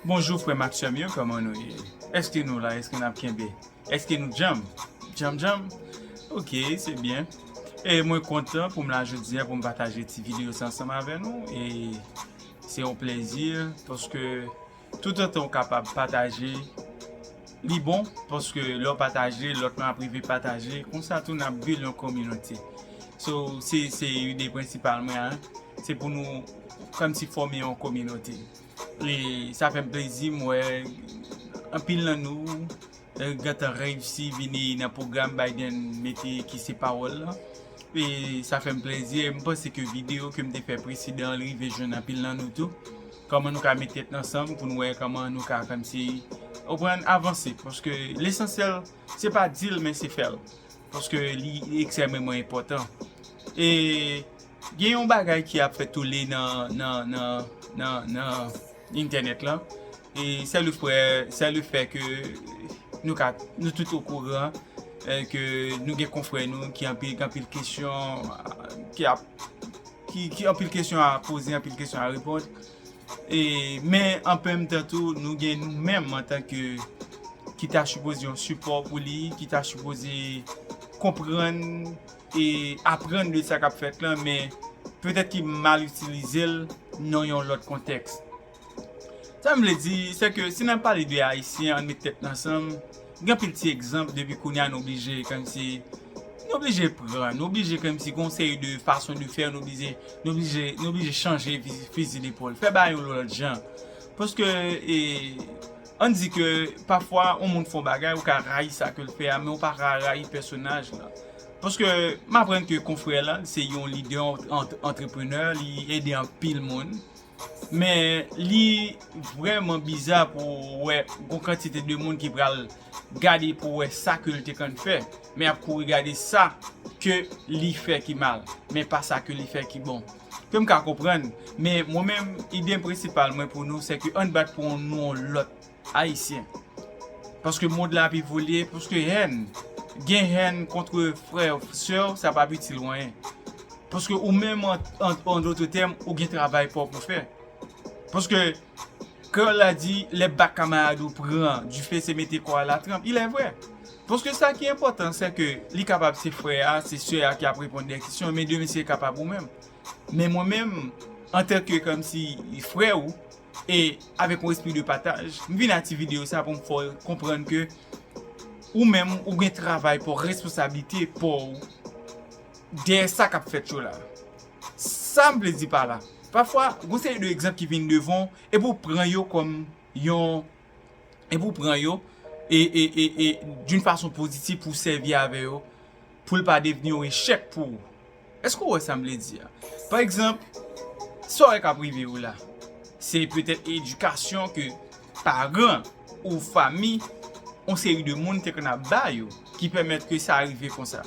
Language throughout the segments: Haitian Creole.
Bonjou frèm ak sèm yo kòman nou ye èske nou la èske nap kenbe èske nou djanm djanm djanm ok se byen e mwen kontan poum la jodia poum pataje ti video sa ansanm avè nou e se yon plezi paske tout otanw kapab pataje li bon paske lèw pataje lòt moun ap rive pataje konsa tou nap bil yon kominote so se ide prensipal mwen se pou nou kòmsi fòme yon kominote. E sa fè m plezi m wè anpil nan nou gentan reyisi vini nan pwogram Biden mete ki se pawòl lan. E sa fè m plezi e m panse ke videyo ke m te fè preseden an rive jwenn anpil nan nou tou. Kòman nou ka met tèt nou ansanm pou nou wè kòman nou ka kòmsi ou konprann avanse. Paske lesansyèl se pa di l men se fè l. Paske li ekstrèmeman enpòtan. E. Gen yon bagay ki ap fè tole nan entènèt lan, e sè le fwè, sè le fè ke nou ka, nou tout o kouran ke nou gen konfwè nou ki anpil, gen anpil kesyon ki ap, ki anpil kesyon a poze, anpil kesyon a repond. E men anpèm tan tou nou gen nou menm an tan ke ki ta sipoze yon sipò pou li, ki ta sipoze konprann. e aprann de sa k ap fèt lan men petèt ki mal itilize l nan yon lòt kontèks. Sa m vle di, se ke si n ap pale de Ayisyen ann met tèt n ansanm, gen anpil ti egzanp depi kounye a nou blije kòmsi, nou blije pran, nou blije kòmsi gen yon seri de fason de fè nou blije, nou blije, nou blije chanje fizi depòl, fè bagay yon lòt jan paske e. Ann di ke pafwa yon moun fè yon bagay ou ka rayi sa ke l fè a men ou pa ka rayi pèsonaj la. Paske m aprann ke konfrè la l se yon lidè antreprenè, li ede anpil moun. Men li vrèman biza pou w wè yon kantite de moun ki pral gade pou wè sa ke l te konn fè men y ap kouri gade sa ke li fè ki mal men pa sa ke li fè ki bon. Ke m ka konprann, men mwen menm ide prensipal mwen pou nou se ke ann bat pou yon nou yon lòt Ayisyen. Paske mond la ap evolye, paske hèn, gen hèn kontre frè, sè w sa pa ap itil w anyen. Paske ou menm an dotre tèm ou gen travay pa w pou fè. Paske. Kreyol la di lè bak kamarad ou pran dife se mete kò a la tranp. Ilèvrè. Paske sa ki enpòtan sè ke li kapab se frè a, se sè a ki ap reponn dè kesyon, men demen se kapab ou menm. Men mwen menm, antan ke kòmsi frè ou, e avèk yon espri de pataj, m vin a ti videyo sa pou m fè w konprann ke ou menm ou gen travay paw, responsablite paw dèyè sa k ap fèt yo la. Sa m vle di pa la, pafwa gon seri de egzanp ki vin devan w epi w pran yo kòm yon, epi w pran yo e, e, e, e d'une façon positive pou w sèvi avè yo pou l pa devni yon echèk pou ou. Èske w wè sa m vle di a? Pa egzanp, sa w wè k ap rive yo la, se petèt edikasyon ke paran, ou fami, yon seri de moun te konn ap ba yo ki pèmèt ke sa rive konsa.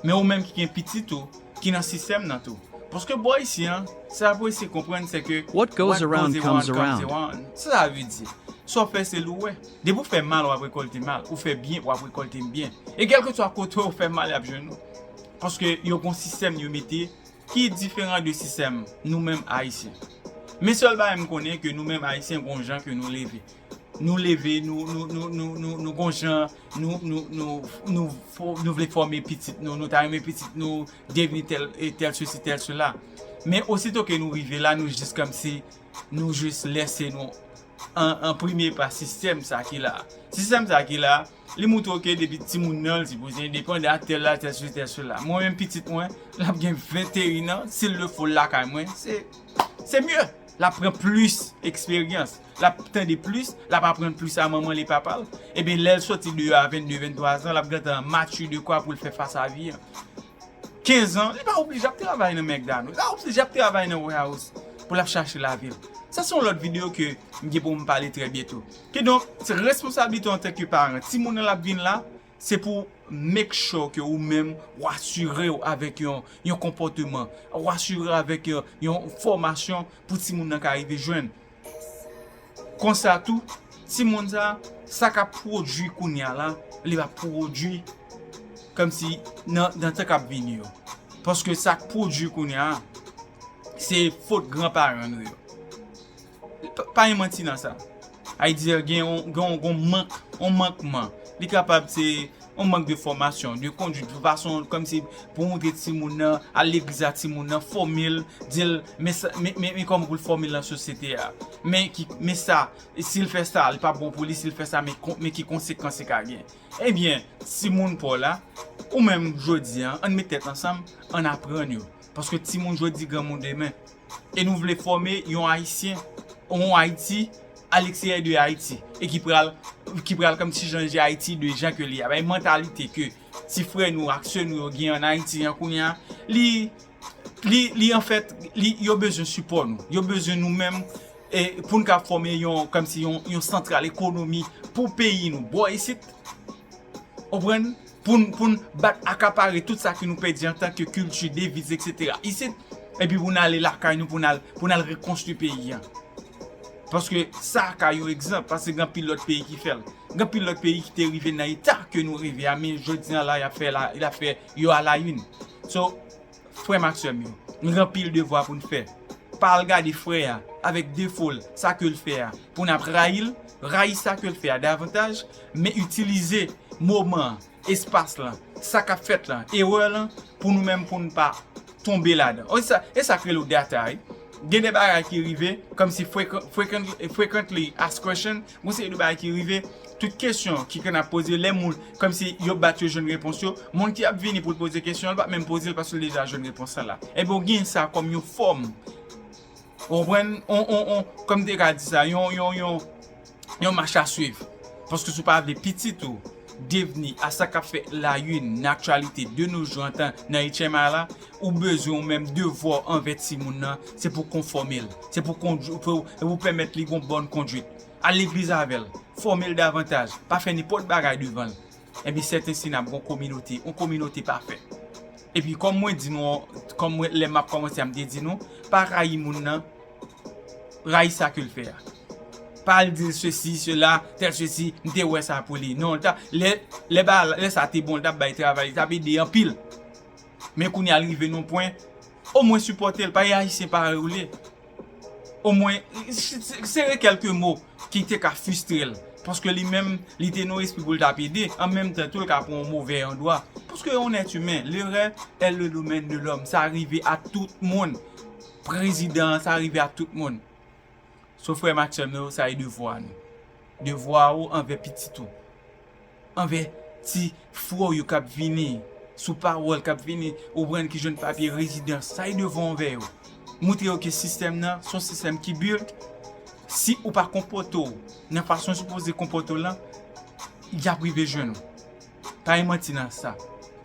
Men ou menm ki gen pitit ou ki nan sistèm nan tou. Paske bò isi an, sa n'ap eseye konprann se ke What goes around comes around. Sa sa vle di? Sa w fè se li w wè. Depi ou fè mal w'ap rekòlte mal, ou fè byen w'ap rekòlte byen. E kèlkeswa kote ou fè mal y'ap jwenn ou. Paske yo gon sistèm yo mete Ki diferan de sistèm nou menm Ayisyen. Men sèl bagay m konnen ke nou menm Ayisyen gon jan ke nou leve. Nou leve, nou gon jan nou vle fòme pitit nou, nou ta renmen pitit nou devni tèl e tèl sesi tèl sela. Men osito ke nou rive la nou jis kòmsi nou jis lèse nou enprime pa sistèm sa ki la. Sistèm sa ki la. Li moutre w ke depi timoun nan, l sipoze endepandan ak tèl la, tèl sesi, tèl sela. Mwen menm pitit mwen, l ap gen 21 an, si l le fo l lakay mwen, se, se mye! L ap pran plis eksperyans, l ap tande plis, l ap aprann plis a manman l e papa l. Enben, lè l soti deyò a 22, 23 zan, l ap gentan mature de kwa pou l fè fas a vi an. 15 zan, li pa oblije ap travay nan McDonald's, li pa oblije ap travay nan warehouse pou l ap chache lavi l. Sa se yon lòt videyo ke m gen pou m pale trè byento. Kidonk, se responsablite w antanke paran, timoun nan l ap vin la, se pou w make sure ke ou menm ou asire w avèk yon konpòteman, ou asire w avèk yon fòmasyon pou timoun nan ka rive jwenn. Konsa tou, timoun sa, sa k ap pwodui kounye a la, li va pwodui kòmsi nan tan k ap vini yo. Paske sa k pwodui kounye a, se fot gran paran nou yo. Pa gen manti nan sa. Haïtian gen yon mank, yon mankman. Li kapab se yon mank de fòmasyon, de konduit, yon fason kòm si pou montre ti moun nan, al legliz a ti moun nan, fòme l, di l men sa, men kòman pou l fòme l nan sosyete a. Men ki, men sa, si l fè sa, li pa bon pou li, si l fè sa, men ki konsekans li ka gen. Ebyen, ti moun pa w la, ou menm jodi an, an nou met tèt ansanm, an nou aprann yo. Paske ti moun jodi, granmoun demen. e nou vle fòme yon Ayisyen, yon Ayiti a l'extérieur de Haïti e ki pral ki pral kòmsi chanje Ayiti de jan ke li a. Bay mantalite ke ti frè nou ak sè nou yo gen an Ayiti an kounye a, li li li anfèt li yo bezwen sipò nou. Yo bezwen nou menm e pou n ka fòme yon kòmsi yon yon santral ekonomi pou peyi nou bò isit. Konprann? Poun poun bat akapare tout sa ki nou pèdi antan ke kilti, deviz etc. Isit, epi poun ale lakay nou poun al poun al rekonstwi peyi an. Paske sa a ka yon egzanp, paske gen anpil lòt peyi ki fèl. Gen anpil lòt peyi ki te rive nan eta ke nou rive a men jodi an la yap fè la yap fè yo a la une. So. frè m ak sè m yo. Nou gen anpil devwa pou n fè. Pa al gade frè a avèk defo l, sa ke l fè a, pou n ap rayi l. Rayi sa ke l fè a davantaj, men itilize moman an, espas lan, sa k ap fèt lan, erè lan, pou nou menm pou n pa tonbe ladan. E sa k rele w data wi. Gen de bagay ki rive, kòmsi frequently asked questions, Gon seri de bagay ki rive, tout kesyon ki konn ap poze lè moun kòmsi yo bat yo jwenn repons yo, moun ki ap vini pou l poze kesyon an li pap menm poze l paske l deja jwenn repons lan la. Ebyen ou genyen sa kòm yon fòm ou konprann on on on kòm m te ka di sa yon yon yon yon mach a swiv paske si w pa vle pitit ou devni a sa kap fè la yn nan aktyalite de no jou antan nan HMI la ou bezwen ou menm devwa w anvè timoun nan se pou konfòme l se pou kondwi pou se pou pèmèt li gon bòn kondwit al legliz avè l fòme l davantaj pa fè nenpòt bagay devan l enpi sètensi nap gon kominote yon kominote pafè epi kòm mwen di nou kòm mwen lè map kòmanse a m te di nou pa rayi moun nan rayi sa kel fè a pa al dil sesi sela tèl sesi m te wè sa pou li non lè sa te bon li tap bay travay li tap ede anpil men kounya li rive nan pwen o mwen sipòtel pa reyaji se pa rele o mwen sere kelke mo ki te ka fistrel paske li menm li te nan espri pou li tap ede an menm tan tou li ka pran yon movè andwa paske on èt imen lerè è le domèn de lòm sa rive a tout moun. Prezidan an sa rive ak tout moun. So frèm ak sèm yo sa e devwa nou. Devwa ou anvè pitit ou. Anvè ti frè w yo kap vini sou pawòl kap vini ou pran ki jwenn papye rezidans sa e devwa w anvè yo. Moutre yo ke sistèm nan son sistèm ki built si ou pa konpòte w nan fason ou sipoze konpòte w lan yap rive jwenn ou. Pa gen manti nan sa.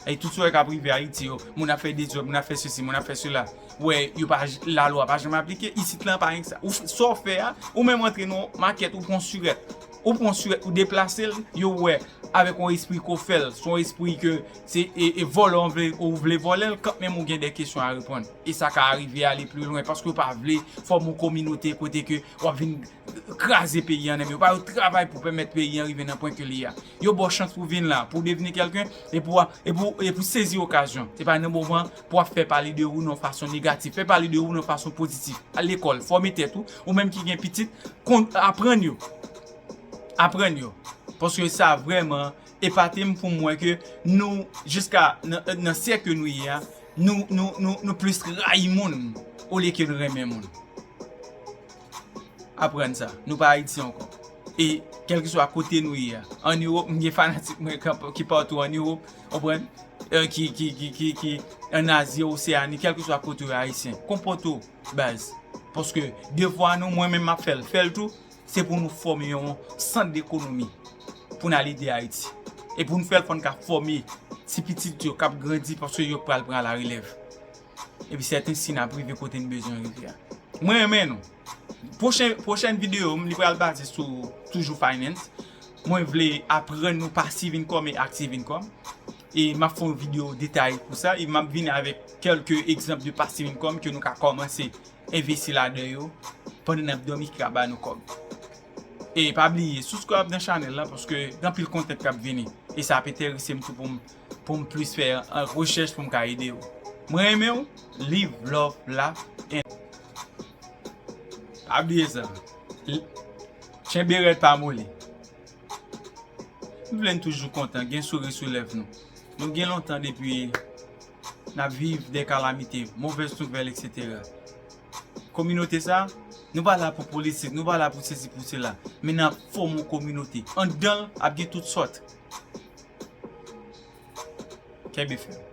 Ayy tout sa w wè kap rive Ayiti yo, moun ap fè dezòd, moun ap fè sesi, moun ap fè sela, ou wè yo pa la lwa pa janm aplike, isit lan pa gen sa. Ou fè sa w fè a, ou menm antre nan yon makèt ou pran sirèt, ou pran sirèt ou deplase l, yo wè avèk yon espri ke w fè l, se yon espri ke se e vòlè w vle ou vle vòlè l kan menm ou gen de kesyon a reponn. E sa ka arive ale pli lwen paske yo pa vle fòme yon kominote kote ke wap vin kraze peyi an nèm yo pa yo travay pou pèmèt peyi an rive nan pwen ke li a yo baw chans pou vin la pou devni kelken epi wa epi ou sezi okazyon se pa nan moman pou ap fè pale de ou nan yon fason negatif fè pale de ou nan yon fason pozitif al lekòl fòme tèt ou ou menm ki gen pitit kon aprann yo aprann yo paske sa vrèman epatem poum wè ke nou jiska nan syèk ke nou ye a nou nou nou plis rayi moun olye ke nou renmen moun. aprann sa. Nou pa Ayiti ankò. E kèlkeswa kote nou ye a. An Ewop, m gen fanatik mwen ki patou an Ewop, ou konprann, ki an Azi, Oseani, kèlkeswa kote ou ye Ayisyen. Konpòte ou baz. Paske devwa nou, mwen menm m ap fè l, fè l tou, se pou nou fòme yon sant dekonomi pou n al ede Ayiti. E pou n fè l fò n ka fòme ti pitit yo k ap grandi paske yo pral pran larelèv. Epi sèten si nap rive kote n bezwen rive a. Mwen renmen nou. Pwochen pwochèn videyo m li pral baze sou toujou finance. Mwen vle aprann nou pasif income e active income. E map fè yon videyo detaye pou sa. E map vini avèk kèlke egzanp de pasif income ke nou ka kòmanse envesti ladan yo pandan nap dòmi ki ka ba nou kòb. E pa bliye subscribe nan chanèl la paske gen anpil content kap vini. E sa ap enterese m tou pou m. poum plis fè rechèch poum ka ede yo mwen renmenw liv love la and pa bliye sa tchenbe rèd pa moli nou vle nou toujou kontan gen souri sou lèv nou nou gen lontan depi nap viv de kalamite movèz nouvèl etc. Kominote sa, nou pa la pou politik, nou pa la pou sesi pou sela, men nap fòme yon kominote. Andan l, ap gen tout sòt. Kenbe fèm.